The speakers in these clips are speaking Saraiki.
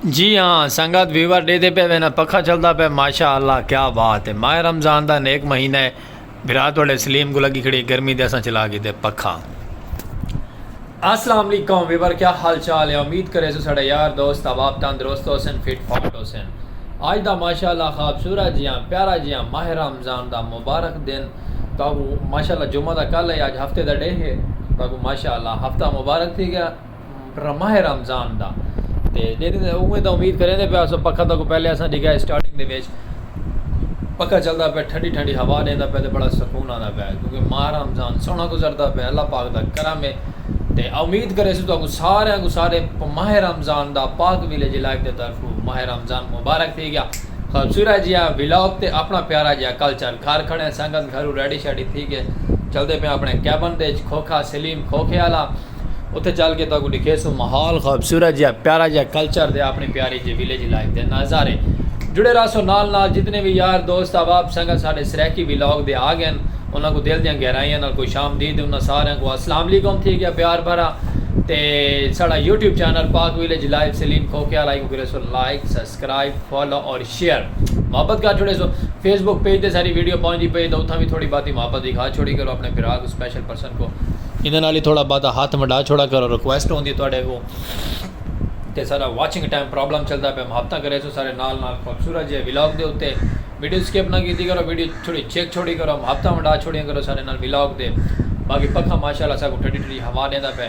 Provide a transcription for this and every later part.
جی ہاں سنگت ویور ڈے دے پہ وینا پکھا چلدا پہ ماشاء اللہ کیا بات ہے ماہ رمضان دا نیک مہینہ ہے برات والے سلیم کو لگی کھڑی گرمی دے اساں چلا گئے دے پکھا السلام علیکم ویور کیا حال چال ہے امید کرے سو سڑے یار دوست احباب تندرست ہو سن فٹ فاٹ ہو سن آج دا ماشاء اللہ خوابصورت جیاں پیارا جیاں ماہ رمضان دا مبارک دن تہاکوں ماشاء اللہ جمعہ دا کل ہے اج ہفتے دا ڈے ہے تہاکوں ماشاء اللہ ہفتہ مبارک تھی گیا ماہ رمضان دا تے جیڑے اوویں تاں امید کریں دے پیا اسو پکھا تہاکوں پہلے اساں ڈیکھا ہے سٹارٹنگ دے وچ پکھا چلدا پیا ٹھنڈی ٹھنڈی ہوا ڈیندا پیا تے بڑا سکون آندا پیا کیونکہ ماہ رمضان سوہنا گزردا پیا اللہ پاک دا کرم ہے تے امید کرے اسو تہاکوں سارے کوں سارے ماہ رمضان دا پاک ویلیج لائیو دے طرفوں ماہ رمضان مبارک تھی گیا خوبصورت جیہا ولاگ تے اپݨا پیارا جیہا کلچر گھر کھڑیں سنگت گھرو ریڈی شیڈی تھی کے چلدے پیاں اپݨے کیبن دے اچ کھوکھا سلیم کھوکھے آلا اتھے چل کے تہاکوں ݙکھیسوں ماحول خوبصورت جیہا پیارا جیہا کلچر تے اپݨی پیاری جیہی ولیج لائف دے نظارے جڑے رہسو نال نال جتنے وی یار دوست احباب سنگت ساݙے سرائیکی ولاگ دے آ ڳئن انہاں کوں دل دیاں گہرائیاں نال خوش آمدید انہاں ساریاں کوں السلام علیکم تھی ڳیا پیار بھرا تے ساݙا YouTube channel Pak village life Saleem کھوکھے آلا ایکوں کریسو لائک سس۔ سبسکرائب فالو اور شیئر محبت کر چھوڑے سو فیس بک پیج تے ساری ویڈیو پہنچ دی پئی تو اتھاں بھی تھوڑی باتی محبت دکھا چھوڑی کرو اپنے بھرا کو سپیشل پرسن کو انہاں نال ہی تھوڑا باتا ہاتھ مڈا چھوڑا کرو ریکویسٹ ہوندی ہے تواڈے کو تے سارا واچنگ ٹائم پرابلم چلدا پیا محبتاں کرے سو سارے نال نال خوبصورت جے ولاگ دے اتے ویڈیو سکپ نہ کیتی کرو ویڈیو تھوڑی چیک چھوڑی کرو محبتاں ونڈا چھوڑیاں کرو سارے نال ولاگ دے باقی پکھا ماشاءاللہ ساکو ٹھڈی ٹھڈی ہوا ڈیندا پے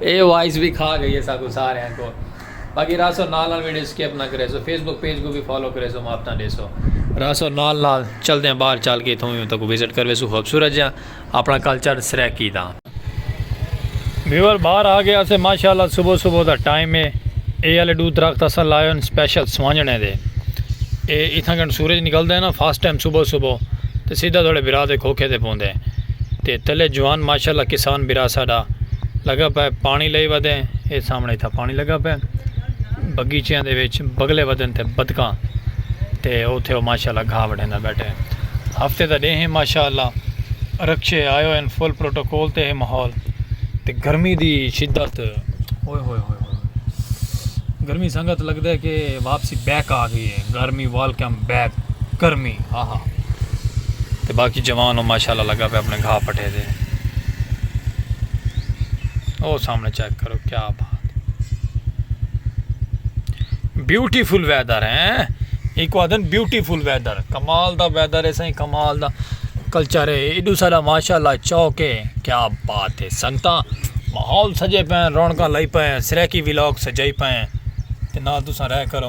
اے وائس وی کھا گئی ہے ساکوں ساریاں کوں باقی راسو نال نال ویڈیو سکپ نہ کریسو فیس بک پیج کوں وی فالو کریسو مافتاں ڈیسو راسو نال نال چلدے ہیں باہر چل کے اتھوں وی اتھوں کوں وزٹ کرویسو خوبصورت جیاں اپنا کلچر سرائیکی دا۔ ویور باہر آ گیا سے ماشاءاللہ صبح صبح دا ٹائم ہے اے والے ڈو درخت اساں لائے ہن سپیشل سوانجنے دے اے اتھاں کن سورج نکلدا ہے نا فاسٹ ٹائم صبح صبح تے سیدھا تھوڑے برا دے کھوکھے تے پوندے تے تلے جوان ماشاءاللہ کسان برا ساڈا لگا پہ پانی لئی ودیں اے سامنے تھا پانی لگا پہ بگیچیاں دے وچ بگلے ودن تے بدکاں تے اوتھے او ماشاءاللہ گھا وڈھیندا بیٹھے ہفتے دا ڈے ہیں ماشاءاللہ رکشے آئے ہوئے ہیں فل پروٹوکول تے ہے ماحول تے گرمی دی شدت ہوئے ہوئے ہوئے ہوئے گرمی سنگت لگدا ہے کہ واپسی بیک آ گئی ہے گرمی ویلکم بیک گرمی آہا تے باقی جوان او ماشاءاللہ لگا پہ اپنے گھا پٹھے دے او سامنے چیک کرو کیا بات بیوٹیفل ویدر ہیں ایک آدھن بیوٹیفل ویدر کمال دا ویدر ہے سائیں کمال دا کلچر ہے ایڈو سارا ماشاءاللہ چوک ہے کیا بات ہے سنگتا ماحول سجے پہ رونکا لائی پہ سریکی ویلوک سجائی پہ تے نال تساں رہ کرو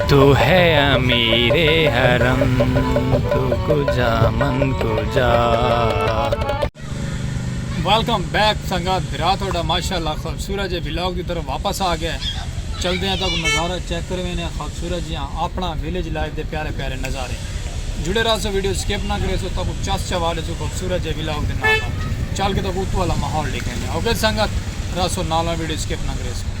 تو ہے امیر حرم تو کجا من کجا۔ ویلکم بیک سنگت بھرا تہاڈا ماشاءاللہ خوبصورت جے ولاگ دی طرف واپس آ گئے چلدے آں تاکوں نظارہ چیک کروینے آں خوبصورت جیہاں آپنڑاں ویلیج لائف دے پیارے پیارے نظارے جڑے رہسو ویڈیو سکپ نہ کریسو تاکوں چس چوا لیسو خوبصورت جے ولاگ دے نال نال چل کے تاکوں اتو آلا ماحول ڈیکھینے آں اوکے سنگت رہسو نال نال ویڈیو سکپ نہ کریسو۔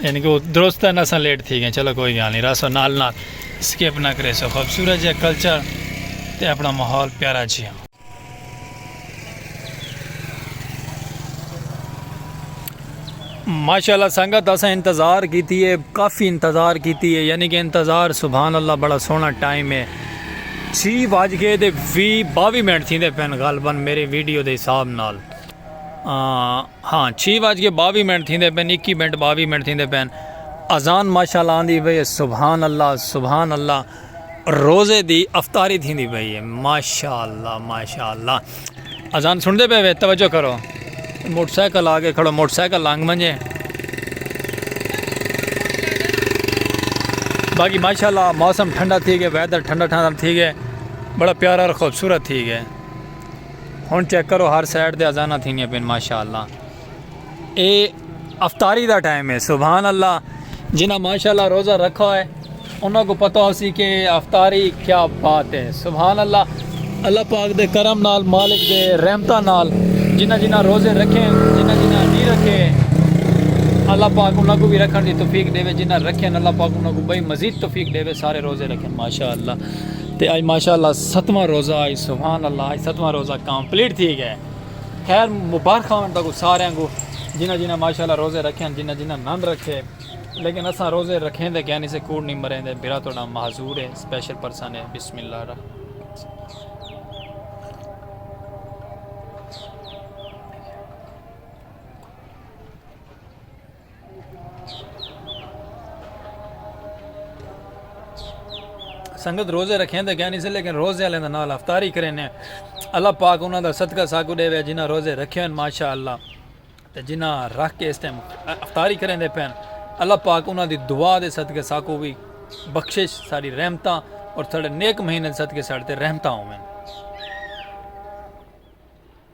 یعنی کہ درست ہے نسا لیٹ تھی گئے چلو کوئی گال نہیں راسو نال نال سکپ نہ کرے سو خوبصورت جا کلچر تے اپنا ماحول پیارا جیا ماشاءاللہ سنگت اسا انتظار کیتی ہے کافی انتظار کیتی ہے یعنی کہ انتظار سبحان اللہ بڑا سونا ٹائم ہے چھی واج کے دے وی باوی منٹ تھی دے پین غالباً میرے ویڈیو دے حساب نال ہاں چھی وج کے باوی منٹ تھیندے پن اکی منٹ باوی منٹ تھیندے پن اذان ماشاءاللہ آندی پئی ہے سبحان اللہ سبحان اللہ روزے دی افطاری تھیندی پئی ہے ماشاءاللہ ماشاءاللہ اذان سندے پے وے توجہ کرو موٹر سائیکل آگے کھڑو موٹر سائیکل لانگ منجے باقی ماشاءاللہ موسم ٹھنڈا تھی گئے ویدر ٹھنڈا ٹھنڈا تھی گئے بڑا پیارا اور خوبصورت تھی گئے ہن چیک کرو ہر سائیڈ تے اذاناں تھیندیاں پین ماشاءاللہ اے افطاری دا ٹائم ہے سبحان اللہ جنہاں ماشاءاللہ روزہ رکھا ہے انہاں کو پتہ ہو سی کہ افطاری کیا بات ہے سبحان اللہ اللہ پاک دے کرم نال مالک دے رحمتہ نال جنہاں جنہاں روزے رکھے ہیں جنہاں جنہاں نہیں رکھے ہیں اللہ پاک انہاں کو بھی رکھن دی توفیق دے وے جنہاں رکھے ہیں اللہ پاک انہاں کو بھئی مزید توفیق دے وے سارے روزے رکھے ہیں ماشاءاللہ تے اج ماشاءاللہ ستواں روزہ اج سبحان اللہ اج ستواں روزہ کمپلیٹ تھی گئے خیر مبارک ہون تکو سارے کو جنہ جنہ ماشاءاللہ روزے رکھے ہیں جنہ جنہ نند رکھے لیکن اساں روزے رکھیں دے کہنی سے کوڑ نہیں مریں دے برا توڑا محضور ہے سپیشل پرسن ہے بسم اللہ الرحمن سنگت روزے رکھیں دے گیانی سے لیکن روزے علیہ نال افطاری کریں ہیں اللہ پاک انہاں دا صدقہ ساکو دے وے جنہاں روزے رکھے ہیں ماشاءاللہ تے جنہاں رکھ کے اس ٹائم افطاری کریں دے پین اللہ پاک انہاں دی دعا دے صدقہ ساکو بھی بخشش ساری رحمتاں اور تھوڑے نیک مہینے صدقے ساڑھتے رحمتاں ہوں میں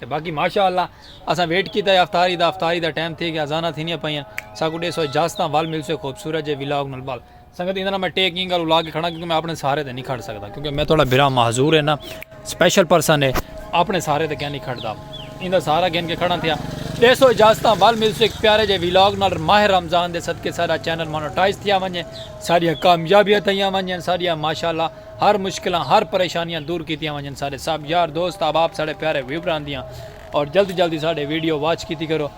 تے باقی ماشاء اللہ اساں ویٹ کیتا ہے افطاری دا افطاری دا ٹائم تھی گیا اذاناں تھینیاں پئیاں ساکوں ڈیسو اجازت تاں ول ملسے خوبصورت جے ولاگ نال بال سنگت ایندے نال میں ٹیک اینگ گل لا کے کھڑا کیونکہ میں اپنے سارے تے نہیں کھڑ سکدا کیونکہ میں تھوڑا بھرا معذور ہے نا سپیشل پرسن ہے اپنے سارے تے کیا نہیں کھڑدا ایندا سارا گن کے کھڑا تھیا ڈیسو اجازت تاں ول ملسے ایک پیارے جے ولاگ نال ماہ رمضان دے صدقے سارا چینل مونوٹائز تھیا ونجے ساریاں کامیابیاں تھیاں ونجے ساریاں ماشاءاللہ ہر مشکلاں ہر پریشانیاں دور کیتیاں ونجن سارے سب یار دوست احباب ساڑے پیارے ویوراں دیاں اور جلد جلد دی ساڑے ویڈیو واچ کیتی کرو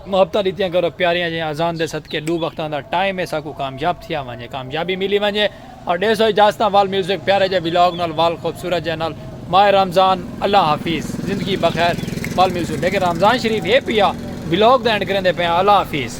محبتاں ڈتیاں کرو پیاریاں جیاں اذان دے صدقے ڈو وقتاں دا ٹائم ہے ساکوں کامیاب تھیا ونجے کامیابی ملی ونجے اور ڈے سو اجازتاں وال میوزک پیارے جے ولاگ نال وال خوبصورت جے نال ماہ رمضان اللہ حافظ زندگی بخیر وال میوزک لیکن رمضان شریف ہے پیا ولاگ دا اینڈ کریندے پیا اللہ حافظ۔